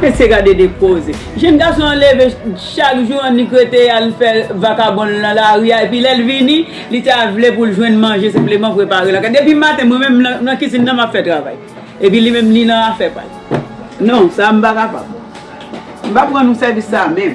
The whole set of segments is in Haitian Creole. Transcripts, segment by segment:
Mesye gade de koze. Jenn gason an leve chak jou annik rete al fè vakabon l nan lari a epi lè l vini li ta vle pou l jwenn manje senpleman prepare lakay. Depi maten mwen menm m nan kizin nan m ap fè travay epi li menm li nan afè pa l. Non, sa a m pa kapab. M pa pran nou sèvis sa a menm.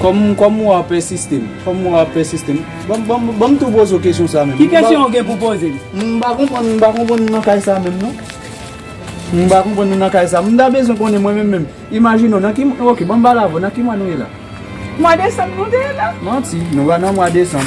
Kòm ou a pèsiste m. Kòm ou a pèsiste m. Banm tou poze w kesyon sa menm. Ki kesyon ou gen pou poze m? M pa konprann m pa konprann nou nan kay sa menm non. M pa konprann nou nan kay sa. M ta bezwen konnen mwen menm menm. Imajine w nan ki mwa. Ok banm pale avè w. Nan ki mwa nou ye la? Mwa desanm nou te ye la. Manti. Nou pa nan mwa desanm.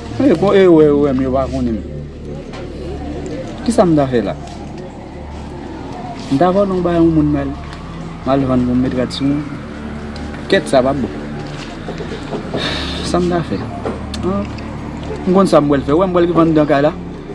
Hey bon e wè yo wèm yo pa konenm kisam ta fè la mta vòlon bay yon moun mal mal vann poum met rad sou moun kèt sa pa bon sam ta fè mkonn sam pwal fè ou wèm pwal vann dan kay la.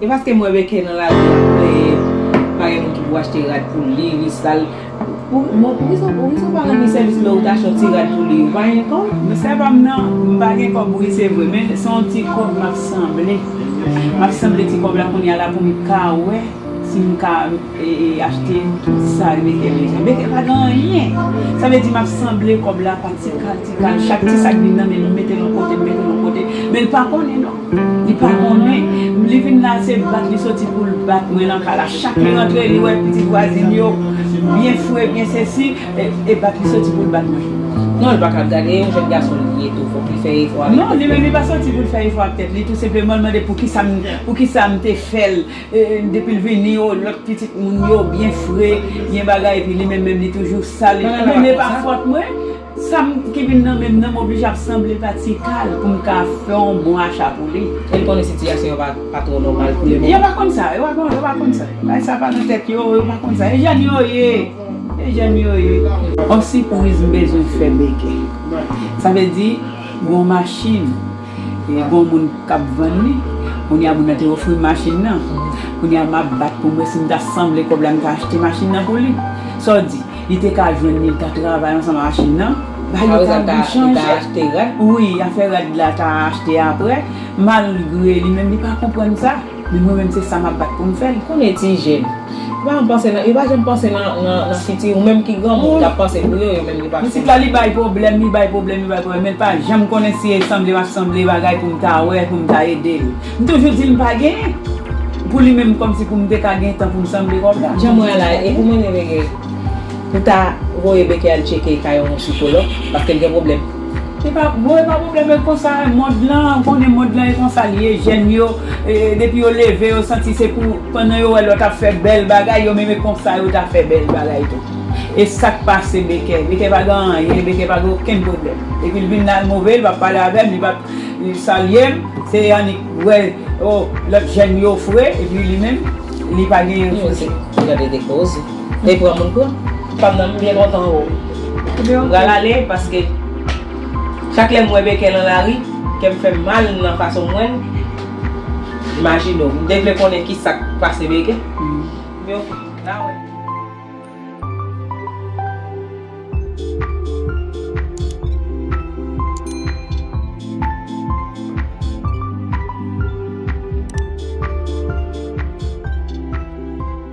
E paske mwen beken nan lavi a mwen pa gen moun ki pou achte rad pou li, li sal. Bon poukisa ou pa ranni sèvis lè ou ta achte yon ti rad pou li, ou pa gen kòb? Nan sa pa m nan, m pa gen kòb wi se vre men se yon ti kòb m ap sanble, m ap sanble ti kòb la kounye a la pou m ka wè si m ka Achtem sa yo mete bezwen mete pa gen anyen sa vle di map sanble kob la pa tikal tikal chak ti sak vin nan menl m metel yon kote m metel yon kote menl pa konnen non li pa konnen li vin la se bat li soti poul bat mwen nan kay la chak li rantre li wè pitit vwazin yo byen fre byen sesi e bat li soti poul bat mwen non li paka gade e yon jèn gason li ye tou fok li fè efò avèk tèt li non li menm li pa soti poul fè efò avèk tèt li tou senpleman li mande poukisa m poukisa m te fèl. Depil vini oh lot pitit moun yo byen fre, byen bagay epi li menm menm li toujou sal. Bon men pa fòt mwen, sam ki vin nan menm nan m oblije ap sanble pa Tikal pou m ka fè yon bon acha pou li. Li konnen sitiyasyon yo pa twò nòmal pou le moman. Yo pa konn sa, yo pa konn sa. Bagay sa pa nan tèt yo, yo pa konn sa. E jèn yo ye, e jèn yo ye. On sipriz m bezwen fè Beke. Sa vle di gon machin. Gen yon moun k ap vann li. Kounye a moun nan te ofri m machin nan. Kounye a m ap bat pou m wè si m ta sanble kòb la m ta achte machin nan pou li. Sa w di? Li te ka jwenn li, li ta travay ansanm ak machin nan. Bagay yo ta vin chanje. Sa vle di li ta achte rad? Wi, afè rad la ta achte aprè. Malgre li menm li pa konprann sa. Li mwen menm se sa map bat poum fèl. Konnen ti jèn. Yo pa janm panse nan yo pa janm panse nan fiti ou menm ki granmoun ou tap panse pou yo yo menm yo pa Misik la li bay pwoblèm li bay pwoblèm li bay pwoblèm menl pa janm konnen si e sanble pap sanble bagay poum ta wè poum ta edel m toujou dil m pa genyen pou li menm kòmsi poum te ka gen tan poum sanble kòb la Jan mwen la e pou mwen te veye pou ta voye Becky al tcheke kay yon sikològ paskel gen pwoblèm. Epa bon epa problème e konsa mond lan ou konnen mond lan e konsa li ye jèn yo depi yo leve yo santi se pou pandan yo wè lòt ap fè bèl bagay yo menm e konsa yo ta fè bèl bagay tou e sak pase Bekè Bekè pa gen anyen Bekè pa gen okenn problème depil vin la move li pap pale avèm li pap salyem se annik wè oh lòt jèn yo fre epi li menm li pa gen yon koze. Li pran moun tou. Fanm nan m byen kontan oo. M pral ale paske chak lè m wè Baker nan lari kè m fè m mal nan fason m wè l. Imajine w. M te vle konnen ki sa k pase Baker. Ebyen ok. N a wè.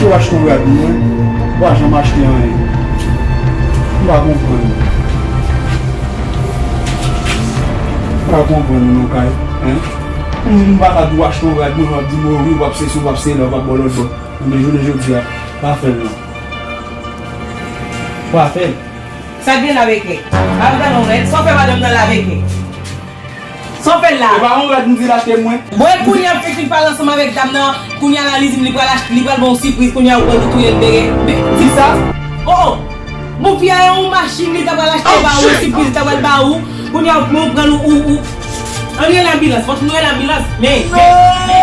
Yo wach ton rad mwen pa janm achte anyen m pa konprann m pa konprann non kay hein pou moun pa ka di wach ton rad mwen wap di mwen wi wap sesi wap sela wap bò lòt bò ebyen jounen jodia pa fèl non pa fèl. Sak gen lave kle. Bab galon rèd, sa w fè madanm nan lave kle. Saw fè la? Epa yon rad mdil achte mwen. Bon e kounya fi fin pale ansanm avèk dam nan kounya la li dim li pral li pral banw sipriz kounya ou pran tou touyel bere disa oh oh bon fi a yon machine li ta pral achte ba ou yon sipriz li ta pral ba ou kounya ou pran ou pran ou ou an rele anbilans fòk nou rele anbilans me me me me.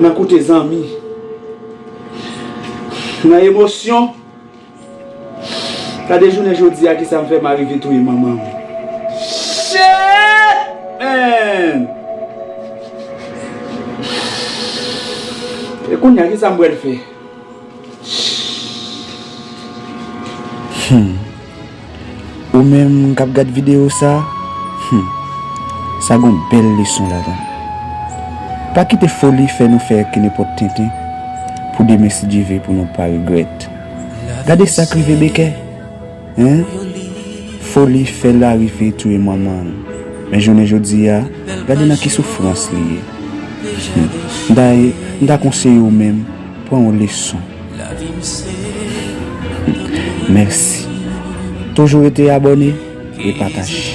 Nan koute zanmi. Nan emosyon. Gade jounen jodi a kisa m fè m arive touye manman m. Shit man! E kounya kisa m pral fè? Humm ou menm kap gad video sa humm sa gon bèl leson ladann pa kite foli fè nou fè kenepòt tenten pou demen si Dye ve pou nou pa regrèt gade sak rive Becker. Hein Foli fè Lari vle touye manmanl men jounen jodia gade nan ki soufrans li ye Humm m ta m ta konseye w menm pran yon leson Humm mèsi Toujou rete abòne e pataje.